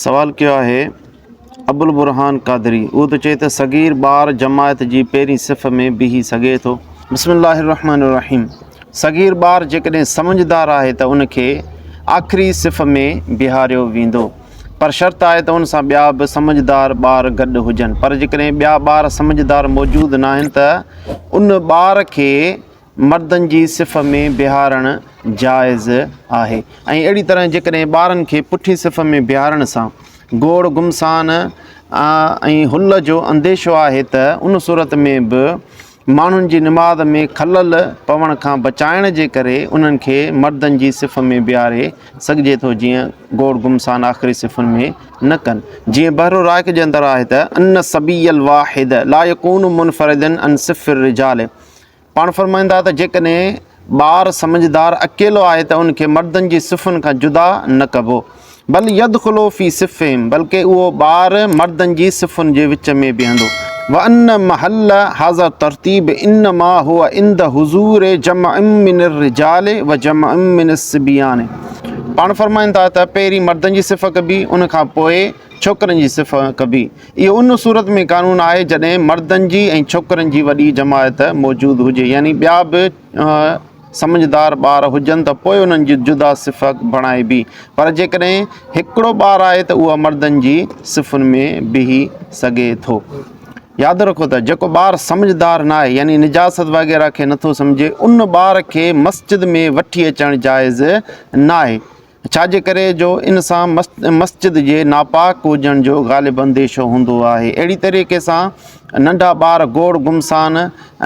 سوال ڪيو آهي ابوالبرھان قادري اهو ته چئي ته صغير ٻار جماعت جي پهرين صف ۾ بيهي سگهي ٿو. بسم الله الرحمٰن الرحيم صغير ٻار جيڪڏهن سمجهدار آهي ته ان کي آخري صف ۾ بيهاريو ويندو پر شرط آهي ته ان سان ٻيا به سمجهدار ٻار گڏ هجن پر جيڪڏهن ٻيا ٻار سمجهدار موجود ناهن ته ان ٻار کي مردن جي صف ۾ بيهارڻ جائز آهي ۽ اهڙي طرح جيڪڏهن ٻارن کي پٺي صف ۾ بيهارڻ سان گوڙ گمسان ۽ حل جو انديشو آهي ته ان صورت ۾ به ماڻهن جي نماز ۾ خلل پوڻ کان بچائڻ جي ڪري انهن کي مردن جي صف ۾ بيهاري سگهجي ٿو جيئن گوڙ گمسان آخري صفن ۾ نه ڪن جيئن بحر الرائق جي اندر آهي ته ان الصبي الواحد لا يڪون منفردا عن صف الرجال پاڻ فرمائن ٿا ته جيڪڏهن ٻار سمجهدار اڪيلو آهي ته ان کي مردن جي صفن کان جدا نه ڪبو بل يدخلو في صفهم بلڪه اهو ٻار مردن جي صفن جي وچ ۾ بيهندو. وان محل هذا الترتيب انما هو عند حضور جمع من الرجال وجمع من الصبيان پاڻ فرمائن ٿا ته پهرين مردن جي صف ڪبي ان کان پوء ڇوڪرن جي صف ڪبي. اهو ان صورت ۾ قانون آهي جڏهن مردن جي ۽ ڇوڪرن جي وڏي جماعت موجود هجي يعني ٻيا به سمجهدار ٻار هجن ته پوء انهن جي جدا صف بڻائبي پر جيڪڏهن هڪڙو ٻار آهي ته اهو مردن جي صفن ۾ بيهي سگهي ٿو. ياد رکو ته جيڪو ٻار سمجهدار ناهي يعني نجاست وغيره کي نٿو سمجهي ان ٻار کي مسجد ۾ وٺي اچڻ جائز ناهي. ڇاجي ڪري جو ان سان مسجد جي ناپاڪ هجڻ جو غالب انديشو هوندو آهي. اهڙي طريقي سان ننڍا ٻار گوڙ گمسان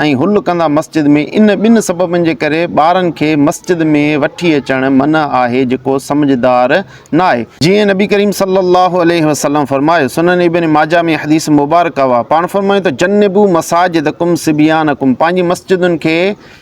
۽ هل ڪندا مسجد ۾ ان ٻن سببن جي ڪري ٻارن کي مسجد ۾ وٺي اچڻ منع آهي جيڪو سمجهدار ناهي. جيئن نبي ڪريم صلي الله عليه وسلم فرمايو، سنن ابن ماجه ۾ حديث مبارڪه اها، پاڻ فرمايو ته جنبو مساجدڪم صبيانڪم پنهنجي مسجدن کي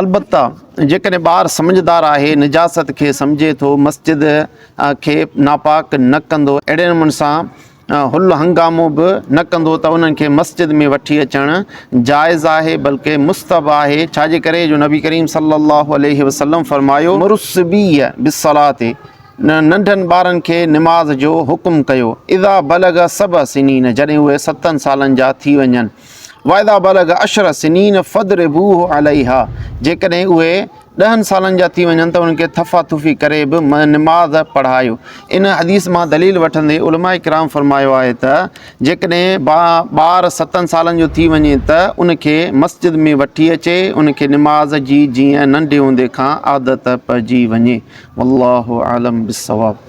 البته جيڪڏهن ٻار سمجهدار آهي، نجاست کي سمجهي ٿو، مسجد کي ناپاڪ نه ڪندو، اهڙي نموني سان هل هنگامو به نه ڪندو ته انهن کي مسجد ۾ وٺي اچڻ جائز آهي بلڪه مستحب آهي، ڇاجي ڪري جو نبي ڪريم صلّي اللّٰه عليه وسلّم فرمايو، مروا الصّبيّ بالصّلاة، ننڍن ٻارن کي نماز جو حڪم ڪيو، اذا بلغ سبع سنين، جڏهن اهي ستن سالن جا ٿي وڃن. واذا بلغ عشر سنين فضربوه عليها جيڪڏهن اهي ڏهن سالن جا ٿي وڃن ته انهن کي ٿڦا ٿڦي ڪري به نماز پڙهايو ان حديث مان دليل وٺندي علماء ڪرام فرمايو آهي ته جيڪڏهن ٻار ستن سالن جو ٿي وڃي ته ان کي مسجد ۾ وٺي اچي ان کي نماز جي جيئن ننڍي هوندي کان عادت پئجي وڃي والله اعلم بالصواب